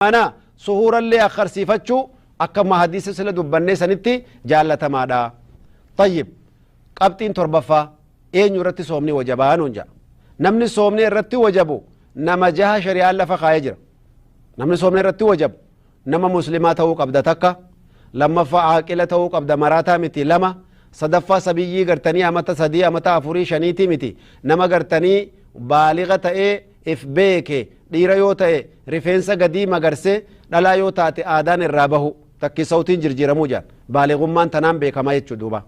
Mana suhuurallee akkarsiifachuu akkuma hadiisa sila dubbannee sanitti jaallatamaadha. Tayyib qabxiin torbaffaa eenyu irratti soomni wajabaa nuun ja'a. Namni soomni irratti wajabu nama jaha shari'aan lafa kaa'ee jira. Namni soomni irratti wajabu nama muslimaa ta'uu qabda takka lammaffaa aaqila ta'uu qabda maraataa miti lama sadaffaa sabiyyii gartanii amata sadii amata afurii shaniitii miti nama gartanii baaliga ta'ee if beeke dhiira yoo ta'e rifeensa gadii magarsee dhalaa yoo taate aadaan irraa bahu takki sawtiin jirjiiramuu jedhan baaligummaan tanaan beekama jechuu duuba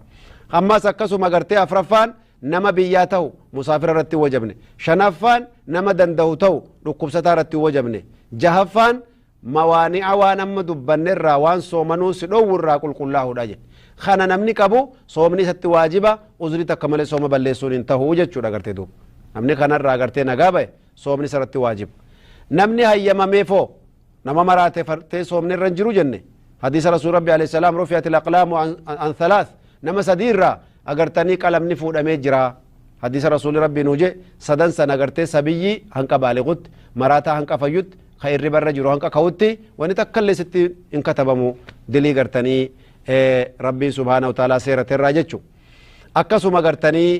ammas akkasuma gartee afraffaan nama biyyaa ta'u musaafira irratti wajabne shanaffaan nama danda'u ta'u dhukkubsataa irratti wajabne jahaffaan mawaani'a waan amma dubbanne irraa waan soomanuu si dhoowwu irraa qulqullaa'uudha jedhe kana namni qabu soomni isatti waajiba uzrii takka malee sooma balleessuun hin tahu jechuudha gartee duuba namni kanarraa gartee nagaa ba'e soomni isarratti waajiba namni hayyamameefoo nama maraate fartee soomni irra hin jiru jenne hadiisa rasuul rabbi alayhi salaam rufi'at alaqlaamu an thalath nama sadii irraa agartanii qalamni fuudhamee jiraa hadiisa rasuuli rabbii nuu jee sadan san agartee sabiyyii hanqa baaliqutti maraataa hanqa fayyutti ka irriba irra jiru hanqa ka'utti wani takkallee sitti hin katabamu dilii gartanii rabbiin subhaanahu ta'aalaa seerate irraa jechu akkasuma gartanii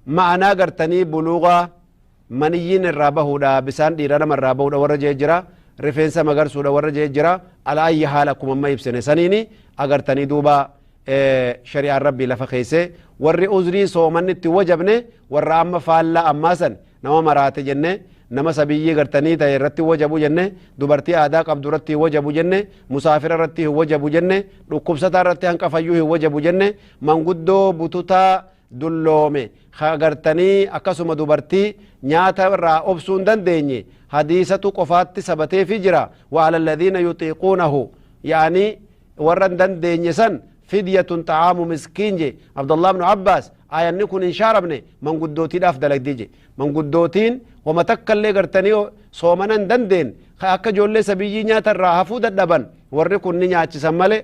Ma'anaa gartanii buluuga maniyyiin irraa bahuudha bisaan dhiira nama irraa bahuudha warra jee jira rifeensa magarsuudha warra jee jira ala ayyi haala akkuma amma ibsine saniini agartanii duuba shari'aan rabbii lafa keesse warri uzrii soomanni itti wajabne warra amma faallaa ammaa san nama maraate jenne nama sabiyyii gartanii ta'e irratti wajabu jenne dubartii aadaa qabdu irratti hin wajabu jenne musaafira irratti hin wajabu jenne dhukkubsataa irratti hanqafayyuu hin wajabu jenne manguddoo bututaa dulloome ka gartanii akkasuma dubartii nyaata irraa obsuu hin dandeenye hadiisatu qofaatti sabateefi jira wa ala alladhiina yuxiiquunahu yaanii warra hin dandeenye san fidyatun xa'aamu miskiin je abdullah ibnu abbaas ayanni kun hin shaaramne manguddootiidhaaf dalagdi je manguddootiin wama takka illee gartanii soomana hin dandeen ka akka ijoollee sabiyyii nyaata irraa hafuu dadhaban warri kun ni nyaachisan malee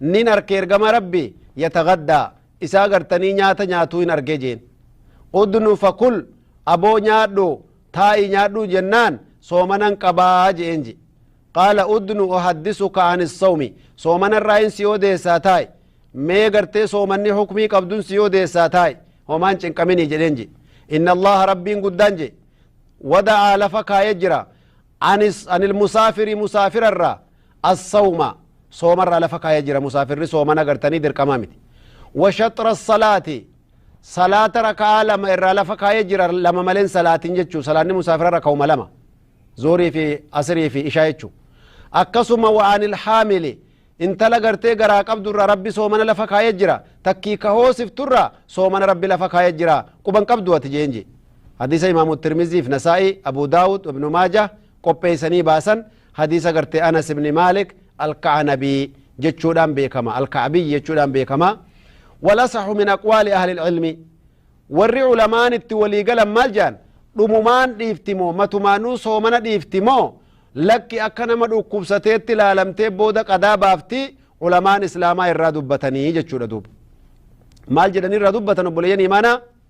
Nin arke ergama Rabbi yatagaddaa isaa gartanii nyaata nyaatuu hin arge jeen. Udnu fakul aboo nyaadhu taa'ii nyaadhuu jennaan soomanan qabaa je'een je. Qaala udnu uhaddisuka ani sawmi soomanarraa hin si odeessaa taa'i. Mee gartee soomanni hukmii qabdun si odeessaa taa'i. Homaan cinqaminii jedheen je. Inna Allaha Rabbiin guddaan je. Wada'aa lafa kaayee jira. Anis anil musaafiri musaafirarraa As-sawma, soomarraa lafa kaaya jira, musaafirri sooman agartanii dirqama miti. Wa shaxra as-salaati, salaata raka'aa lama irraa lafa kaaya jira, lama malee hin salaatin jechuu, salaanni musaafira raka'uma lama, zuhrii fi asrii fi ishaa jechuu. Akkasuma wa anil haamili, intala gartee garaa qabdu irraa rabbi soomana lafa kaaya jira, takkii ka hoosiftu irraa soomana rabbi lafa kaaya jira, quban qabdu ati jeen jee. Hadiisa imaamu Tirmiziif Nasaa'ii, Abu Daawud, Ibnu Maajah qopheessanii baasan, Hadiisa gartee Anas ibn Maalik Al-Ka'anabii jechuudhaan beekama. Al-Ka'abiy jechuudhaan beekama. Walasaxu min aqwaali ahli ilmi. Warri ulamaan itti walii galan maal jedhan? Dhumumaan dhiifti moo matumaanuu soomana dhiifti moo lakki akka nama dhukkubsateetti laalamtee booda qadaa baafti ulamaan islaamaa irraa dubbatanii jechuudha duuba. Maal jedhanii irraa dubbatan obboleeyyan imaanaa?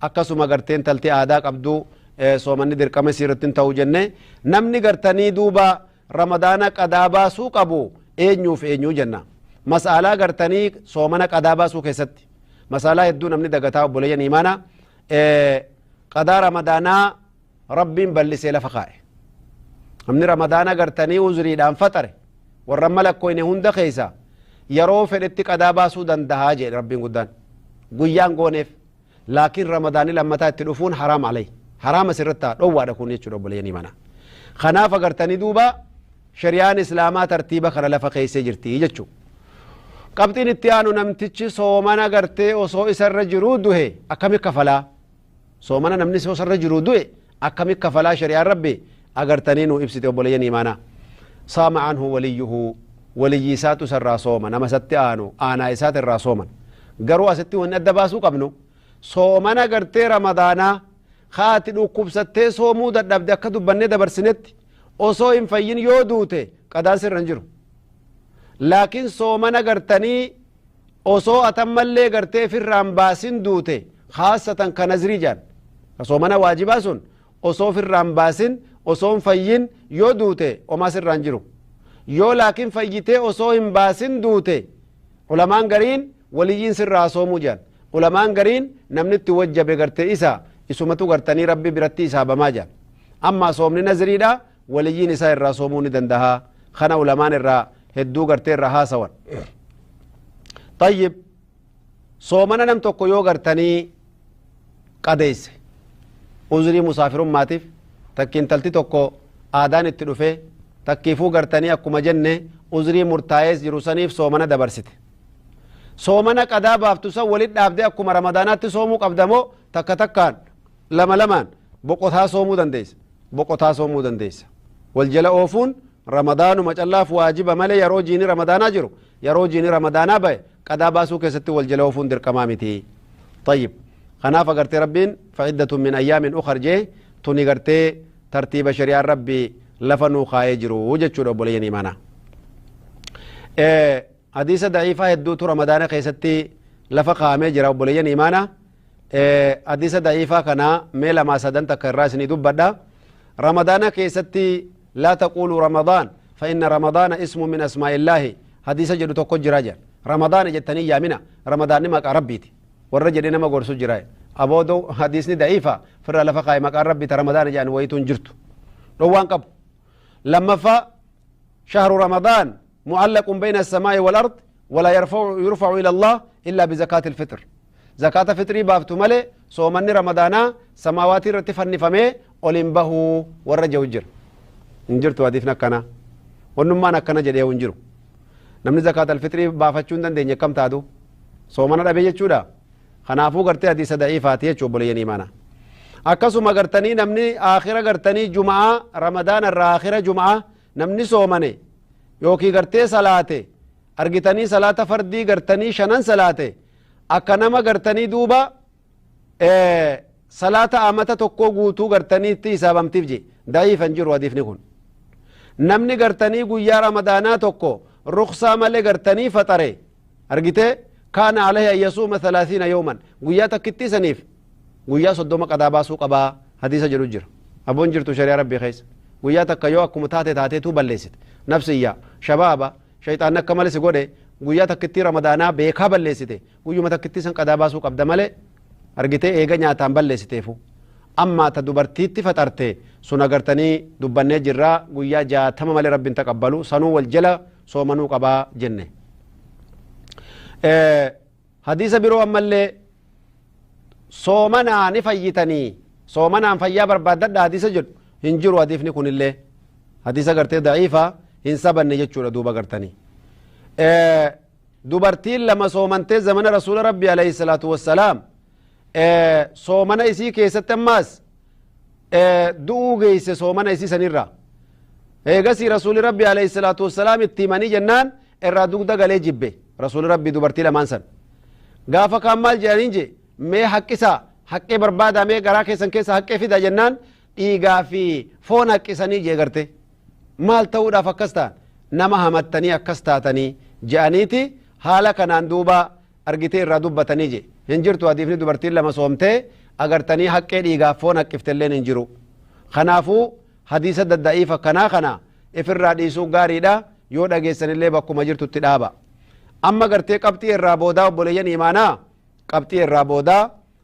Akkasuma gartee intalti aadaa qabdu soomanni dirqama isii irratti hin ta'u jenne. Namni gartanii duuba Ramadaana qadaa baasuu qabu eenyuuf eenyuu jenna. Mas'aalaa gartanii soomana qadaa baasuu keessatti mas'aalaa hedduu namni dagataa obboleeyyan imaana qadaa Ramadaanaa Rabbiin bal'isee lafa kaa'e. Namni Ramadaana gartanii uzuriidhaan faxare warra malakkoyne hunda keessa yeroo fedhetti qadaa baasuu dandahaa jedhe Rabbiin guddaan. Guyyaan gooneef laakiin ramadaanni lammataa itti dhufuun haraam alay haraama sirratti ta'a dhowwaadha kun jechuudha obboleeyanii mana kanaaf agartanii duuba shariyaan islaamaa tartiiba kana lafa keessee jirti jechuu qabxiin itti aanu namtichi soomana agartee osoo isarra jiruu duhe akkami kafalaa soomana namni osoo isarra jiruu du'e Akkami kafalaa shari'aan Rabbi agartanii nuu ibsite obboleeyyan iimaanaa. Saama anhu waliyyuhu waliyyii isaatu isa irraa sooma nama isatti aanu aanaa isaati irraa sooman. Garuu asitti wanni adda baasuu qabnu soomana gartee ramadaanaa ka ati dhukkubsattee soomuu dadhabde akka dubbannee dabarsinetti osoo hin fayyin yoo duute qadaan sirra hin jiru. Laakiin soomana gartanii osoo ati ammallee gartee ifirraa hin baasin duute khaasatan ka nazrii jedhan ka soomana waajibaa sun osoo ofirraa hin baasin osoo hin fayyin yoo duute omaa sirraa hin jiru yoo laakiin fayyitee osoo hin baasin duute ulamaan gariin waliyyiin sirraa haa soomuu jedhan ulamaan gariin namni itti wajjabe gartee isa isumatu gartanii rabbi biratti isaabamaa jedhan ammaa soomni nazriidha waliyyiin isaa irraa soomuu ni dandaha kana ulamaan irraa hedduu gartee irraa haasawan طيب soomana nam tokko yoo gartanii qadeeyse uzrii musaafirummaatiif takki intalti tokko aadaan itti dhufe takkiifuu gartanii akkuma jenne uzrii murtaa'ees jiru saniif soomana dabarsite soomana qadaa baaftu san walit dhaabde akkuma ramadaanaatti soomuu qabda moo takka takkaan lama lamaan boqotaa soomuu dandeeysa boqotaa soomuu dandeessa. Wal jala oofuun ramadaanuma callaaf waajiba malee yeroo jiini ramadaanaa jiru yeroo jiini ramadaanaa ba'e qadaa baasuu keessatti wal jala oofuun dirqamaa miti. Tayyib. Kanaaf agartee rabbiin fa'iddatun min ayyaamin ukhar jee tuni gartee tartiiba shari'aan rabbi lafa nuu kaa'ee jiru jechuudha obboleeyyan imaanaa. Hadiisa da'iifaa hedduutu Ramadaana keessatti lafa kaa'amee jira obboleeyyan imaana. Hadiisa da'iifaa kana mee lamaa sadan takka irraa isinii dubbadha. Ramadaana keessatti laa taquulu Ramadaan fa inna Ramadaana ismu min asmaa'illaahi hadiisa jedhu tokko jira jedha. Ramadaana jettanii yaamina Ramadaanni maqaa Rabbiiti. Warra jedhee nama gorsu jira. Aboodo hadiisni da'iifa firraa lafa kaa'e maqaan Rabbii ta Ramadaana jedhan wayiitu hin jirtu. Dhowwaan qabu. Lammaffaa shahru Ramadaan mucallaqun bayna assamaa'i walard walaa yarfa'u yurfa'u ila allah illaa bizakaati ilfixr zakaata fixrii baaftu malee soomanni ramadaanaa samaawaatii irratti fannifamee ol hin bahuu warra jehu jira hin jirtu hadiifni akkanaa wannummaan akkana jedhee hin jiru namni zakaata alfixrii baafachuu hin dandeenye akkam taatu soomana dhabee jechuudha kanaafuu gartee hadiisa da'iifaati jechuu obboleeyyan imaanaa akkasuma gartanii namni aakhira gartanii juma'aa ramadaana irraa aakhira juma'aa Namni soomane yookiin gartee salaate argitanii salaata fardii gartanii shanan salaate akka nama gartanii duuba salaata amata tokkoo guutuu gartanii itti hisaabamtiif je da'iifan jiru hadiifni kun namni gartanii guyyaa ramadaanaa tokko ruksaa malee gartanii faxare argitee kaana alayhi an yasuuma thalaathiina yawman guyyaa takkittii saniif guyyaa soddoma qadaa baasuu qabaa hadiisa jedhu jira aboon jirtu shari'a rabbii keessa guyyaa takka yoo akkuma taate taateetuu balleessite nafsiyya shabaaba shayxaanni akka malee si godhe guyyaa takkittii ramadaanaa beekaa balleessite guyyuma takkittii san qadaa baasuu qabda malee argitee eega nyaataan balleessiteefu ammaa ta dubartiitti faxarte sun agartanii dubbannee jirraa guyyaa jaatama malee rabbiin taqabbalu sanuu wal jala soomanuu qaba jenne. Hadiisa biroo ammallee soomanaa ni fayyitanii soomanaan fayyaa barbaaddadha hadiisa jedhu hin jiru hadiifni kunillee hadiisa gartee da'iifa hin sabanne jechuudha duuba gartanii. Dubartiin lama soomantee zamana rasuula rabbi alayhi salaatu wassalaam soomana isii keessatti ammaas du'uu geeyse soomana isii sanirra eegasii rasuuli rabbi alayhi salaatu wassalaam itti himanii jennaan irraa dugda galee jibbe rasuuli rabbi dubartii lamaan san gaafa kaan maal jedhaniin je mee haqqisaa haqqee barbaadaa mee garaa keessan keessa haqqee fidaa jennaan dhiigaa fi foon haqqisanii jee garte maal ta'uudhaaf akkas ta'an nama hamattanii akkas taatanii je'aniiti haala kanaan duubaa argitee irraa dubbatanii je. Hin jirtu hadiifni dubartiin lama soomtee agartanii haqqee dhiigaaf foon haqqiftelleen hin jiru. Kanaafuu hadiisa dadda'iifa kanaa kana ifirraa dhiisuu gaariidha yoo dhageessanillee bakkuma jirtutti dhaaba. Amma gartee qabxii irraa boodaa obboleeyyan imaanaa qabxii irraa boodaa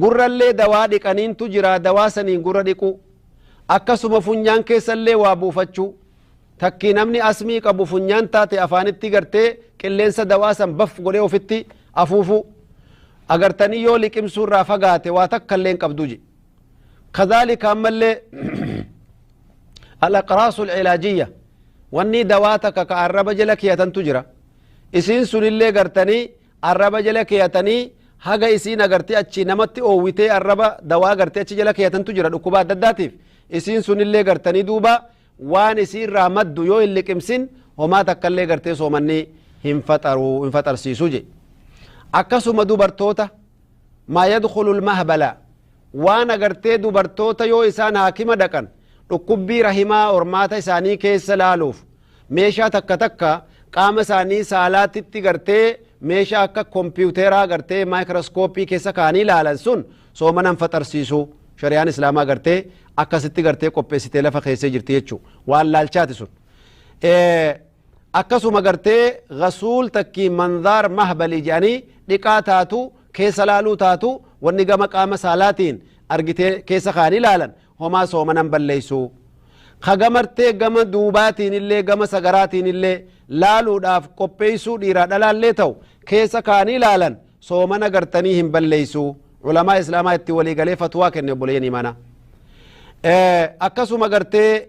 Gurrallee dawaa dhiqaniintu jira dawaa saniin gurra dhiquu. Akkasuma funyaan keessallee waa buufachuu. Takkii namni asmii qabu funyaan taate afaanitti gartee qilleensa dawaa san baf godhee ofitti afuufuu. Agartanii yoo liqimsuu irraa fagaate waa takkallee hin qabdu je. Kadhaalika ammallee al-aqraasul cilaajiyya wannii dawaa takka ka arraba jala keeyatantu jira. Isiin sunillee gartanii Arraba jala keeyatanii haga isiin agartee achii namatti oowwitee arraba dawaa gartee achi jala keeyatantu jira dhukkuba adda addaatiif isiin sunillee gartanii duuba waan isiirraa maddu yoo hin liqimsin homaa takkallee gartee soomanni hin faxaru hin faxarsiisu je akkasuma dubartoota maa yadkhulu lmahbala waan agartee dubartoota yoo isaan haakima dhaqan dhukkubbii rahimaa hormaata isaanii keessa laaluuf meeshaa takka takka qaama isaanii saalaatitti gartee meeshaa akka kompiwuteeraa gartee maayikirooskooppii keessa kaanii ilaalan sun soomana hin faxarsiisu shari'aan islaamaa gartee akkasitti gartee qopheessitee lafa keessee jirti jechuu waan laalchaati sun akkasuma gartee gasuul takkii manzaar mahbalii jedhanii dhiqaa taatu keessa laaluu taatu wanni gama qaama saalaatiin argitee keessa kaanii ilaalan homaa soomana hin balleessu. Ka gamartee gama duubaatiinillee gama sagaraatiinillee laaluudhaaf qopheessuu dhiiraa dhalaallee ta'u keessa kaanii laalan soomana gartanii hin balleessu. Ulamaa Islaamaa itti walii galee fatwaa kenne obboleeyyan imaanaa. Akkasuma gartee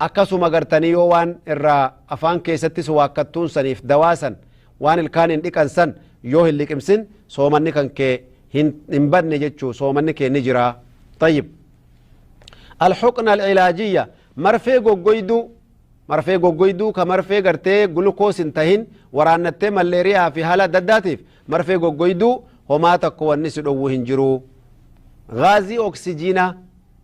Akkasuma gartanii yoo waan irraa afaan keessattis waakkattuun saniif dawaa san waan ilkaaniin dhiqan san yoo hin liqimsin soomanni kan kee hin hin badne jechuu soomanni kee ni jira tayyib alhuqna alcilaajiyya marfee goggoyduu marfee goggoyduu ka marfee gartee gulukoos hin tahin waraannattee malleeriyaa fi haala adda addaatiif marfee goggoyduu homaa takko wanni si dhowwu hin jiru gaazii oksijiinaa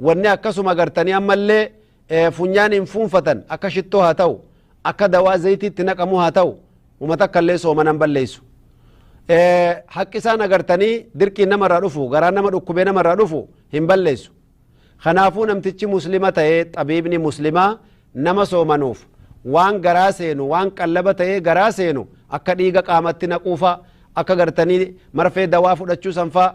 Wanni akkasuma agartanii ammallee funyaaniin fuunfatan akka shittoo haa ta'u, akka dawaa zayitii itti naqamuu haa ta'u, uma takkallee soomana hin balleessu. Haqqi isaan agartanii dirqiin nama irraa dhufu, garaan nama dhukkubee nama irraa dhufu hin balleessu. Kanaafuu namtichi muslima ta'ee xabiibni muslimaa nama soomanuuf waan garaa seenu, waan qallaba ta'ee garaa seenu akka dhiiga qaamatti naquufaa, akka gartanii marfee dawaa fudhachuu sanfaa,